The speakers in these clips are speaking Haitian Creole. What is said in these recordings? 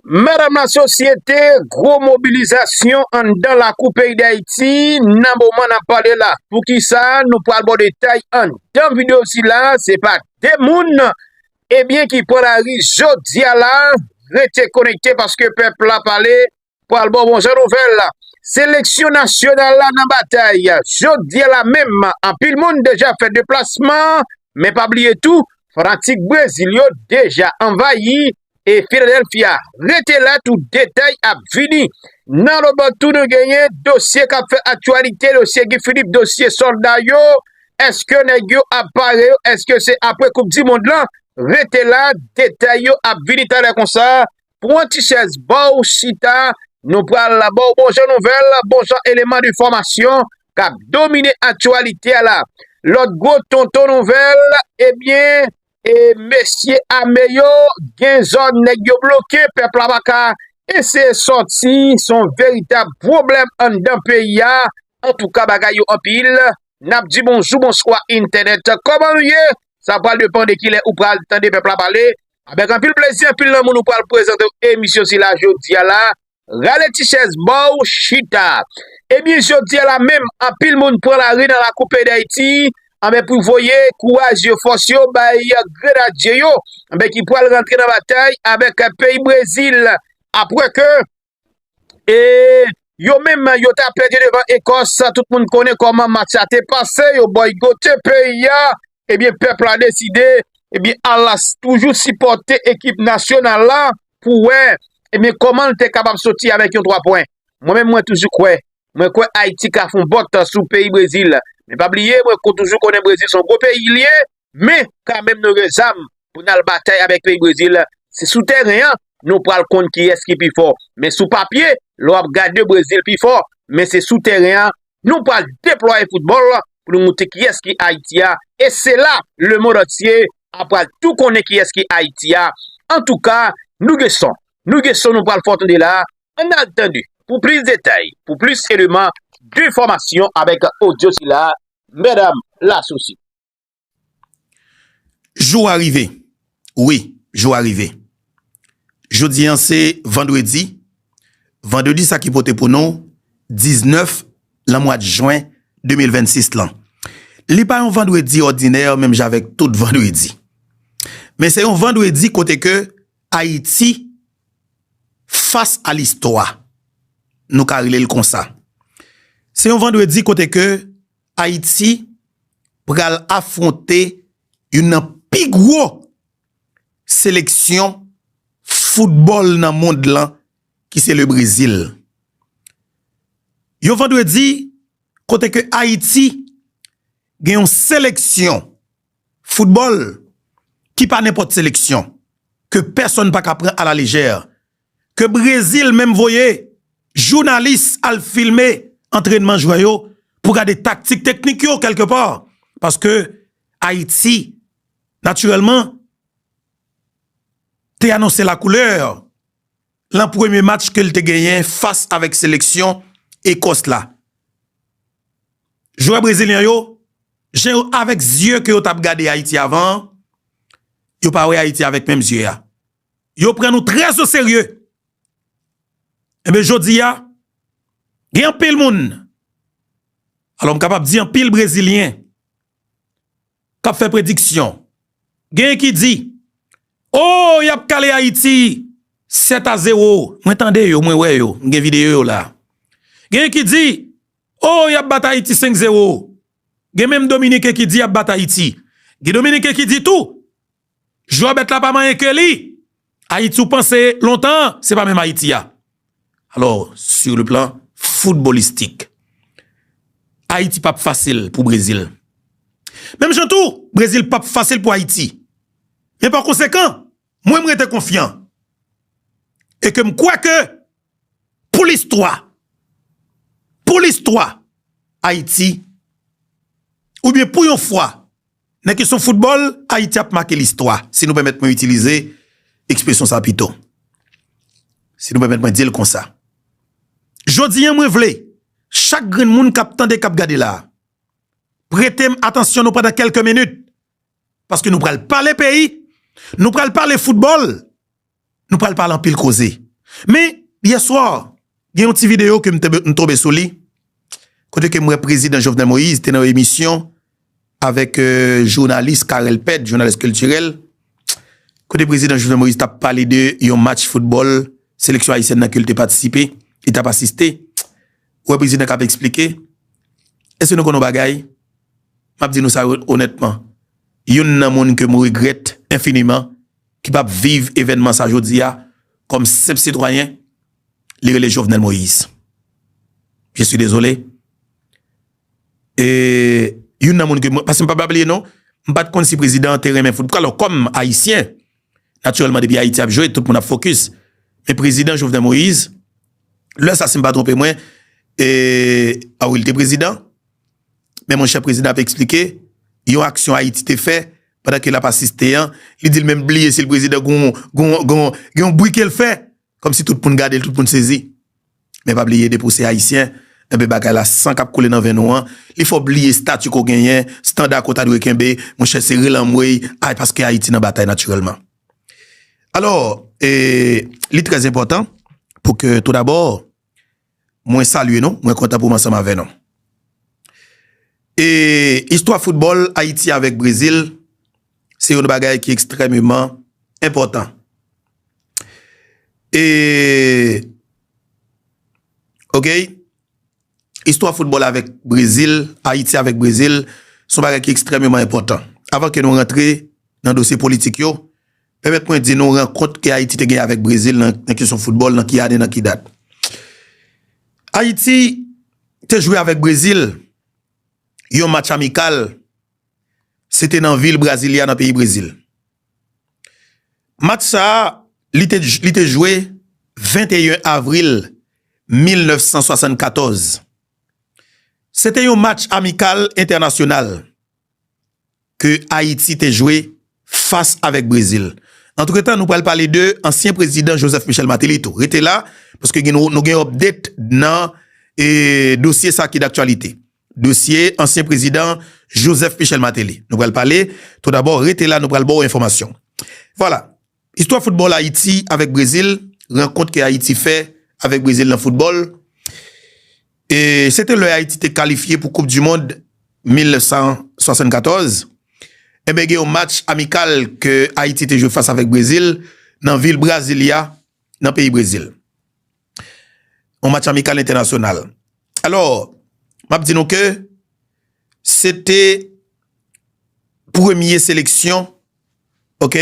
Medam lasosyete gwo mobilizasyon anndan lakou peyi dayiti nan moman nap pale la poukisa nou pral bon detay anndan video sila se pa de moun ebyen ki pran lari jodia la rete konekte paske pèp la pale Pral bon bon jan nouvèl, seleksyon nasyonal la nan batay jodi a la menm, anpil moun deja fè deplasman, men pa bliye tou fanatik Brezil yo deja anvayi e Philadelphia, rete la tout detay ap vini. Nan lòt bò tou nou genyen dosye kap fè aktyalite, dosye Guy Philippe, dosye sòlda yo, eske nèg yo ap pare yo, eske se apre koup di mond lan, rete la detay yo ap vini talè konsa. Pran ti chèz ba w chita, nou pral ba w bon jan nouvèl, bon jan eleman de fòmasyon k ap domine aktyalite a la. Lòt gwo tonton nouvèl, ebyen, e mesye ame yo gen zòn nèg yo bloke, pèp la pa ka eseye sòti, s on veritab pwoblèm anndan peyi a. Antouka bagay yo anpil. N ap di bonjou, bonswa entènèt, kòman ou ye? Sa pral depan de ki lè ou pral tande pèp la pale. Avèk anpil plezi anpil lanmou nou pral prezante w emisyon sila jodi a la. Rale ti chèz ba w chita. Ebyen jodi a la menm anpil moun pran lari nan lakou peyi Dayiti anben pou voye kouraj yo fòs yo bay grenadye yo anben ki pral rantre nan batay avèk peyi Brezil apre ke E yo menm yo ta pèdi devan Ekòs, tout moun konnen kòman match la te pase, yo bòygote peyi a, ebyen pèp la deside, ebyen ala toujou sipòte ekip nasyonal la pou wè, ebyen kòman l te kapab soti avèk yon 3 pwen. Mwen menm mwen toujou kwè, mwen kwè Ayiti ka fon bòt sou peyi Brezil, men pa bliye mwen toujou konnen Brezil son gwo peyi l ye. Men, kanmenm nou gen zam pou n al batay avèk peyi Brezil. Se sou tèren an nou pral konn kiyès ki pi fò. Men sou papye, lè w ap gade Brezil pi fò, men se sou tèren an nou pral deplwaye foutbòl pou nou montre kiyès ki Ayiti a. E se la lemond antye a pral tou konnen kiyès ki Ayiti a. Antouka, nou gen son. Nou gen son nou pral fè w tande la a. Ann al tande pou plis detay, pou plis eleman de enfòmasyon avèk odyo sila a, Mèdam Lasousi. Jou a rive, wi, jou a rive. Jodi an se vandredi, vandredi sa ki pote pou nou 19 lan mwad jwen 2026 lan. Li pa yon vandredi òdinè menm jan avèk tout vandredi. Men se yon vandredi kote ke Ayiti fas a listwa, nou ka rele l konsa. Se yon vandredi kote ke Ayiti pral afwonte youn nan pi gwo seleksyon foutbòl nan mond lan ki se le Brezil. Yon vandredi kote ke Ayiti gen yon seleksyon foutbòl ki pa nenpòt seleksyon, ke pèsòn pa ka pran a la lejè, ke Brezil menm voye jounalis al filme antrènman jwè yo pou gade taktik teknik yo kèlke pa, paske Ayiti natirèlman te anonse la koulè lan premye match ke l te genyen fas avèk seleksyon Ekòs la. Jwè brezilyen yo, jan yo avèk zye ke yo t ap gade Ayiti avan an, yo pa wè Ayiti avèk menm zye a. yo pran nou trè zo serye. Enben jodi a, gen anpil moun, alò m kapab di anpil brezilyen, k ap fè prediksyon. Genyen ki di, o, y ap kale Ayiti 7 a 0. Mwen tande yo, mwen wè yo, m gen videyo yo la. Genyen ki di, o, y ap bat Ayiti 5 0. Gen menm dominiken ki di y ap bat Ayiti. Gen dominiken ki di tou, Jwè bèt la pa manyen ke li. Ayiti ou panse lontan an, se pa menm Ayiti a. Alò, sou le plan foutbolistik, Ayiti pap fasil pou Brezil. Menm jan tou, Brezil pap fasil pou Ayiti. Men pa konsekan, mwen m rete konfyan. E ke m kwè ke pou listwa, pou listwa Ayiti, oubyen pou yon fwa, Nan kesyon foutbòl, Ayiti ap make listwa, si nou pèmèt mwen itilize ekspresyon sa pito. Si nou pèmèt mwen di l konsa. Jodi an mwen vle, chak grenn moun k ap tande, k ap gade la a, prete m atansyon nou pandan kèlke minit, paske nou pral pale peyi, nou pral pale foutbòl, Nou pral pale anpil koze. Men, yè swa, gen yon ti videyo ke m tonbe sou li, kote ke m wè Prezidan Jovenel Moïse te nan yon emisyon avèk jounalis Carel Pède, jounalis kiltirèl, kote Prezidan Jovenel Moïse t ap pale de yon match foutbòl seleksyon ayisyèn nan ke l te patisipe, li t ap asiste. Ou wè Prezidan k ap esplike. Èske nou konnen yon bagay? M ap di nou sa onètman, youn nan moun ke m regrèt enfiniman, ki pa p viv evènman sa jodi a kòm senp sitwayen, li rele Jovenel Moïse. Je suis désolé. E youn nan moun ke mwen, paske m pa bla bliye non, m pa t konn si prezidan an te renmen foutbòl. Alò kòm ayisyen, natirèlman depi Ayiti ap jwe, tout moun ap fokis. Men prezidan Jovenel Moïse, lè sa si m pa twonpe mwen, e a wi l te prezidan. Men monchè prezidan ap eksplike yon aksyon Ayiti te fè pandan ke l ap asiste an, li di l menm bliye si l prezidan gen yon bri ke l fè, kòm si tout moun gade l, tout moun sezi. Men pa bliye depi w se Ayisyen, enben bagay la san k ap koule nan venn ou an, li fè w bliye stati ke w genyen, standa ke w ta dwe kenbe, monchè se rele anmwey, ay paske Ayiti nan batay natirèlman. Alò, li trè enpòtan pou ke tou dabò, mwen salye nou, mwen kontan pou m ansanm avè nou. E istwa foutbòl Ayiti avèk Brezil se yon bagay ki ekstrèmeman enpòtan. E ok, istwa foutbòl avèk Brezil, Ayiti avèk Brezil, son bagay ki ekstrèmeman enpòtan. Avan ke nou rantre nan dosye politik yo, Pèmèt mwen di nou rankont ke Ayiti te gen avèk Brezil nan kesyon foutbòl nan ki ane, nan ki dat. Ayiti te jwe avèk Brezil yon match amikal, se te nan vil Brasilia nan peyi Brezil. Match sa a, li te jwe 21 avril 1974. Se te yon match amikal entènasyonal. ke Ayiti te jwe fas avèk Brezil. Antretan nou pral pale de ansyen prezidan Joseph Michel Martelly tou. Rete la, paske gen nou gen update nan dosye sa ki daktyalite. Dosye ansyen prezidan Joseph Michel Martelly. Nou pral pale, tou dabò rete la nou pral ba w enfòmasyon. Vwala. Istwa foutbòl Ayiti avèk Brezil, Rankont ke Ayiti fè avèk Brezil nan foutbòl Se te lè Ayiti te kalifye pou koup dimond 1974 Enben gen yon match amikal ke Ayiti te jwe fas avèk Brezil nan vil Brasilia nan peyi Brezil Yon match amikal entènasyonal Alò map di nou ke se te premye seleksyon ok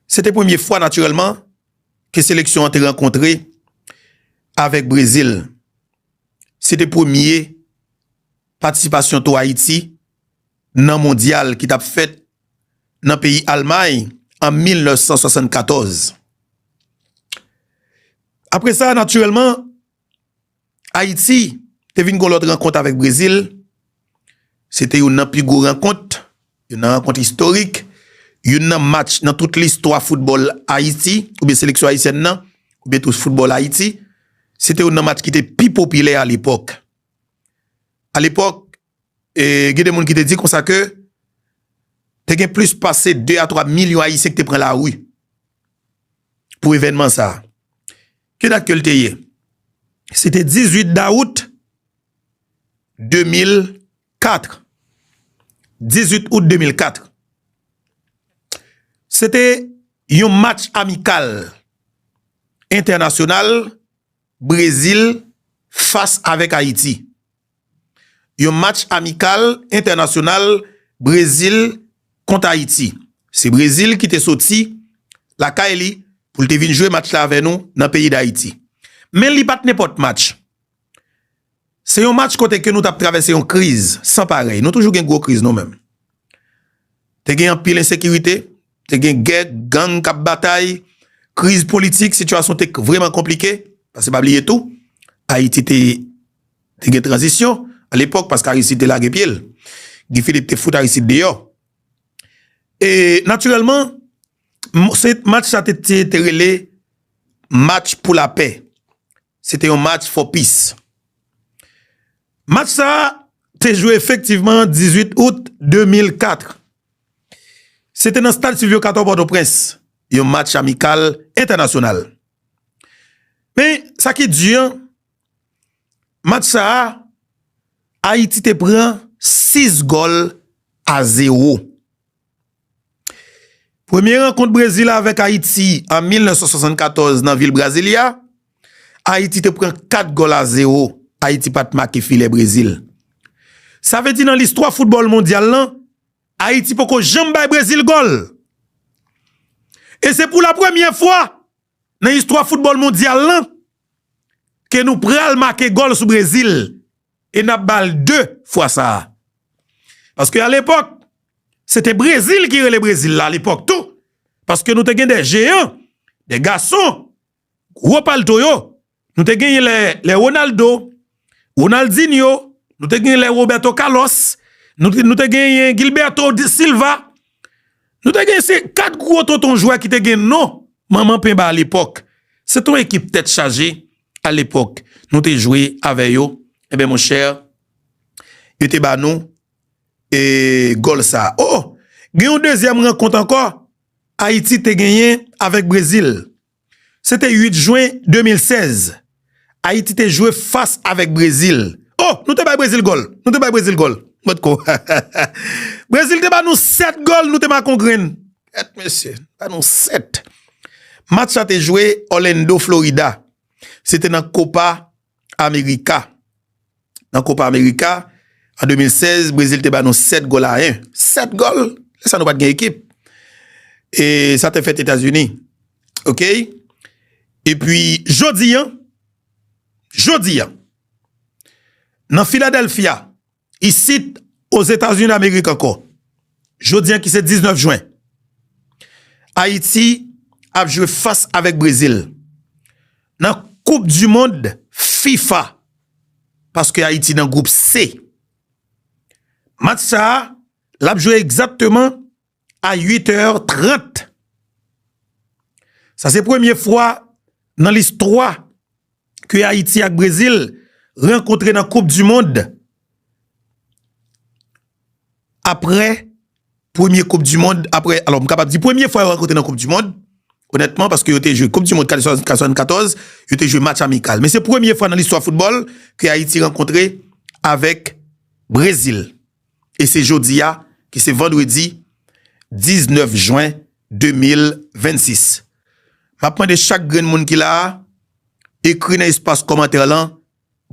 se te premye fwa natirèlman ke seleksyon an te rankontre avèk Brezil se te premye patisipasyon tou Ayiti nan mondyal ki tap fèt nan peyi Almay an 1974 apre sa natirèlman Ayiti te vin gon lòt rankont avèk Brezil, se te youn nan pi gwo rankont, youn nan rankont istorik, youn nan match nan tout listwa foutbòl Ayiti oubyen seleksyon ayisyèn nan oubyen tou foutbòl Ayiti, se te youn nan match ki te pi popilè alepòk. Alepòk, E gen de moun ki te di konsa ke te gen plis pase 2 a 3 milyon Ayisyen ki te pran lari pou evènman sa a. Ki dat ke l te ye? Se te 18 dawout 2004. 18 out 2004. Se te yon match amikal entènasyonal Brezil fas avèk Ayiti. Yon match amikal entènasyonal Brezil kont Ayiti. Se Brezil ki te soti lakay li pou l te vin jwe match la avè nou nan peyi Dayiti. Men li pat nenpòt match. Se yon match kote ke nou tap travèse yon kriz san parèy. Nou toujou gen gwo kriz nou menm. Te gen anpil ensekirite, te gen gè, gang k ap batay, kriz politik, sitiyasyon te vrèman konplike. Pase pa bliye tou, Ayiti te gen tranzisyon alepòk paske Aristide te lage pye l. Guy Philippe te fout Aristide deyò. E natirèlman, match sa te rele match pou lapè. Se te yon match for peace. Match sa a te jwe efektivman 18 out 2004. Se te nan stad Sylvio Cator Pòtoprens, yon match amikal entènasyonal. Men, sa ki di an, match sa a, Ayiti te pran 6 gòl a 0. Premye rankont Brezil avèk Ayiti an 1974 nan vil Brasilia, Ayiti te pran 4 gòl a 0, Ayiti pat make filè Brezil. Sa vle di nan listwa foutbòl mondyal lan, Ayiti poko janm bay Brezil gòl. E se pou la premye fwa Nan istwa foutbòl mondyal lan, ke nou pral make gòl sou Brezil, e n ap ba l 2 fwa sa a. Paske a lepòk, se te Brezil ki rele Brezil la a lepòk tou, paske nou te gen 2 jeyan, 2 gason, gwo palto yo, Nou te genyen lè lè Ronaldo, Ronaldinho, nou te genyen lè Roberto Carlos, nou te genyen Gilberto Silva, nou te genyen se 4 gwo tonton jwè ki te gen non manman penba a lepòk. Se te yon ekip tèt chaje a lepòk. Nou te jwe avè yo, e ben monchè, yo te ba nou e gòl sa. O, gen yon dezyèm rankont ankò, Ayiti te genyen avèk Brezil. Se te 8 jwen 2016, Ayiti te jwe fas avèk Brezil. O! Nou te bay Brezil gòl! Nou te bay Brezil gòl! Mòt kò. Brezil te ba nou 7 gòl, nou te ma kon grenn. Èt mesye! Ba nou 7. Match la te jwe Orlando, Florida. Se te nan Copa. Amerika. Nan Kopa Amerika an 2016, Brezil te ba nou 7 gòl a 1. 7 gòl! Lè sa nou pa t gen ekip. E sa te fèt Etazini. Ok? E pi jodi an, jodi an, nan Filadelfya. Isit, Ozetazinidamerik ankò, jodi an ki se 19 jwen, Ayiti ap jwe fas avèk Brezil nan koup di mond fifa paske Ayiti nan gwoup se. Match sa a, l ap jwe egzatteman a 8 è 30. Sa se premye fwa nan listwa ke Ayiti ak Brezil rankontre nan koup di mond apre premye koup di mond, apre, alò m kapab di premye fwa yo rankontre nan koup di mond, onètman paske yo te jwe koup di mond 74, yo te jwe match amikal. Men se premye fwa nan listwa foutbòl ke Ayiti rankontre avèk Brezil. e se jodi a ki se vandredi 19 jwen 2026. M ap mande chak grenn moun ki la a ekri nan espas kòmantè lan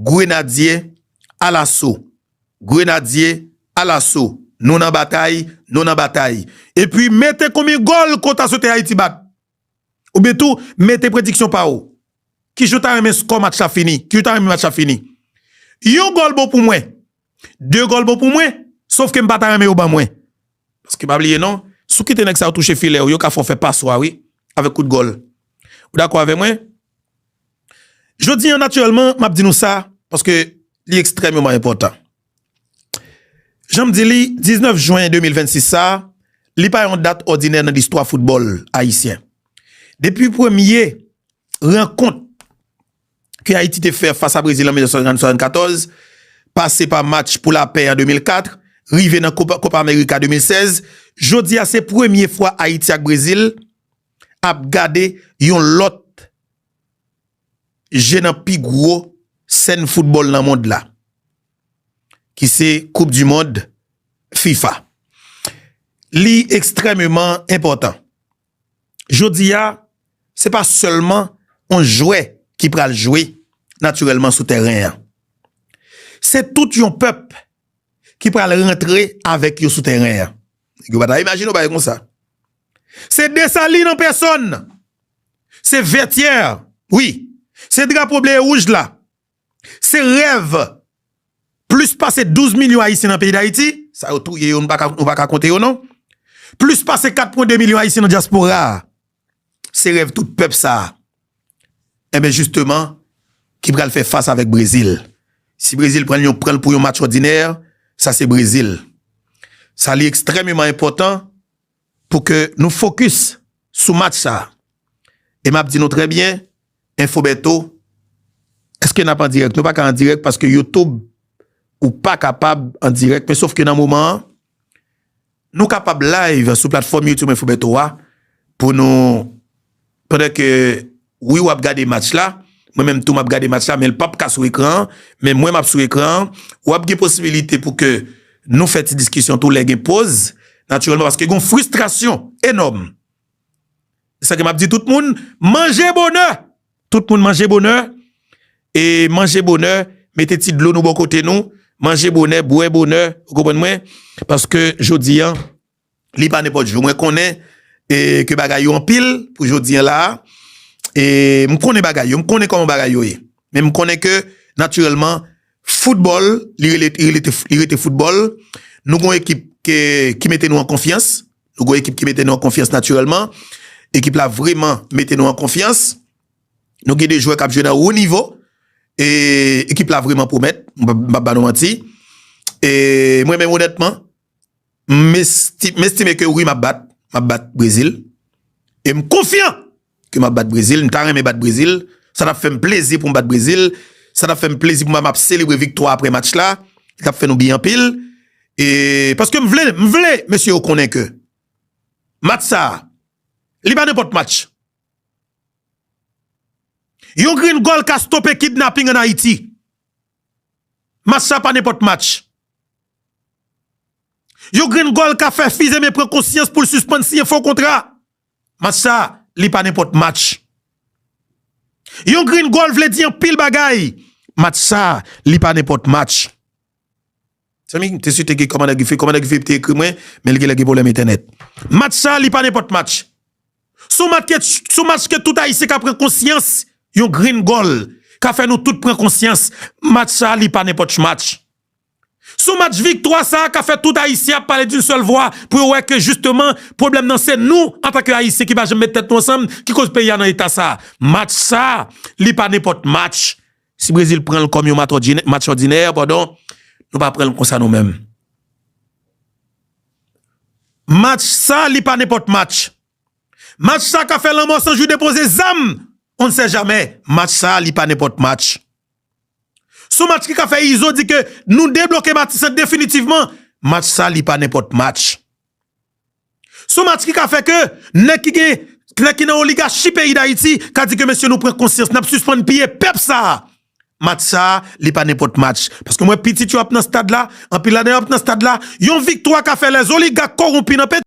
Grenadye alaso, Grenadye alaso, nou nan batay, nou nan batay. Epi mete konbyen gòl kont a swete Ayiti bat. Ou byen tou mete prediksyon pa ou. Ki jan w ta renmen skò match la fini? Ki jan w ta renmen match la fini? Yon gòl bon pou mwen. De gòl bon pou mwen. Sof ke m pa ta renmen yo ban mwen. Paske pa bliye non, si w kite nèg sa yo touche filè ou, yo ka fè w fè pas ou a wi, avèk kout gòl. Ou dakò avè mwen? Jodi an natirèlman, m ap di nou sa, paske li ekstrèmeman enpòtan. Jan m di li, 19 jwen 2026 sa, li pa yon dat òdinè nan listwa foutbòl ayisyen. Depi premye rankont ke Ayiti te fè fas a Brezil an 1974, pase pa match pou lapè an 2004, rive nan Kopa Amerika 2016, jodi a se premye fwa Ayiti ak Brezil ap gade yon lòt je nan pi gwo sèn foutbòl nan mond la ki se koup di mond fifa li ekstrèmeman enpòtan jodi a se pa sèlman yon jwè ki pral jwe natirèlman sou tèren an se tout yon pèp ki pral rantre avèk yo sou tèren an. Yo pa ta imajine yon bagay konsa. Se Desalin an pèsòn. Se Vètyè. Wi. Se drapo ble e wouj la. Se rèv plis pase 12 milyon Ayisyen nan peyi Dayiti. Sa yo touye yo nou pa ka konte yo non. Plis pase 4 pwen 2 milyon Ayisyen nan dyaspora a. Se rèv tout pèp sa a enben jisteman ki pral fè fas avèk Brezil. Si Brezil pran l pran l pou yon match òdinè, sa se Brezil. Sa li ekstrèmeman enpòtan pou ke nou fokis sou match sa a. E m ap di nou trè byen, Enfo Bèto, èske n ap an dirèk? Nou pa ka an dirèk paske Youtube ou pa kapab an dirèk men sof ke nan moman an. Nou kapab live sou platfòm youtube mwen Fobeto a pou nou pandan ke Wi wap gade match la mwen menm tou map gade match la menl pap ka sou ekran an men mwen map sou ekran an wap gen posibilite pou ke nou fè ti diskisyon tou lè gen poz natirèlman paske gon fristrasyon enòm se sa ke map di tout moun manje bonè Tout moun manje bonè e manje bonè mete ti dlo nou bò kote nou manje bonè bwè bonè ou konprann mwen paske jodi an li pa nenpòt jou mwen konnen e ke bagay yo anpil pou jodi an la a e m konnen bagay yo m konnen kòman bagay yo ye men m konnen ke natirèlman foutbòl li rele li rete foutbòl nou gon ekip ke ki mete nou an konfyans Nou gon ekip ki mete nou an konfyans natirèlman. Ekip la vreman mete nou an konfyans. Nou gen de jwè kap jwe nan wo nivo. E ekip la vreman pwomèt. M pap ba nou manti. E mwen menm onètman, m estime ke wi m ap bat. M ap bat Brezil. E m konfyan! Ke map bat Brezil, m ta renmen bat Brezil, sa tap fèm plezi poum bat Brezil, sa tap fèm plezi pou map selebre viktwa aprè match la, li tap fè nou byen anpil, e paske m vle, m vle mesye yo konnen ke match sa, li pa nenpòt match. Yon grenn gòl ka stope kidnapping an Ayiti. Match sa pa nenpòt match. Yon grenn gòl ka fè Fizeme pran konsyans poul sispann siyen fo kontra. Match sa li pa nenpòt match. Yon green goal vle di anpil bagay. Match sa li pa nenpòt match. Zanmi m te swete gen kòmandè Guy Philippe. Kòmandè Guy Philippe te ekri mwen men li genlè gen pwoblèm entènèt. Match sa li pa nenpòt match. S on match ke tout Ayisyen ka pran konsyans. Yon green goal ka fè nou tout pran konsyans. Match sa li pa nenpòt match. Son match viktwa sa ka fè tout ayisyen ap pale d'un sèl vwa pou yo wè ke jisteman pwoblèm nan se nou antan ke ayisyen ki pa janm met tèt nou ansanm ki koz peyi a nan eta sa. Match sa li pa nenpòt match. Si Brezil pran l kòm yon match òdinè padon nou pa pran l konsa nou menm. Match sa li pa nenpòt match. Match sa ka fè lanmò san jou depoze zam on ne sait jamais. Match sa li pa nenpòt match. Son match ki ka fè Izo di ke nou debloke Matissan definitivman. Match sa li pa nenpòt match. Son match ki ka fè ke nèg ki gen, nèg ki nan oligachi peyi Dayiti ka di ke mesye nou pran konsyans, nap sispann piye pèp sa a. Match sa a li pa nenpòt match. Paske m wè pitit yo ap nan stad la, anpil ladan yo ap nan stad la. Yon viktwa ka fè lèzoligak kowonpi nan.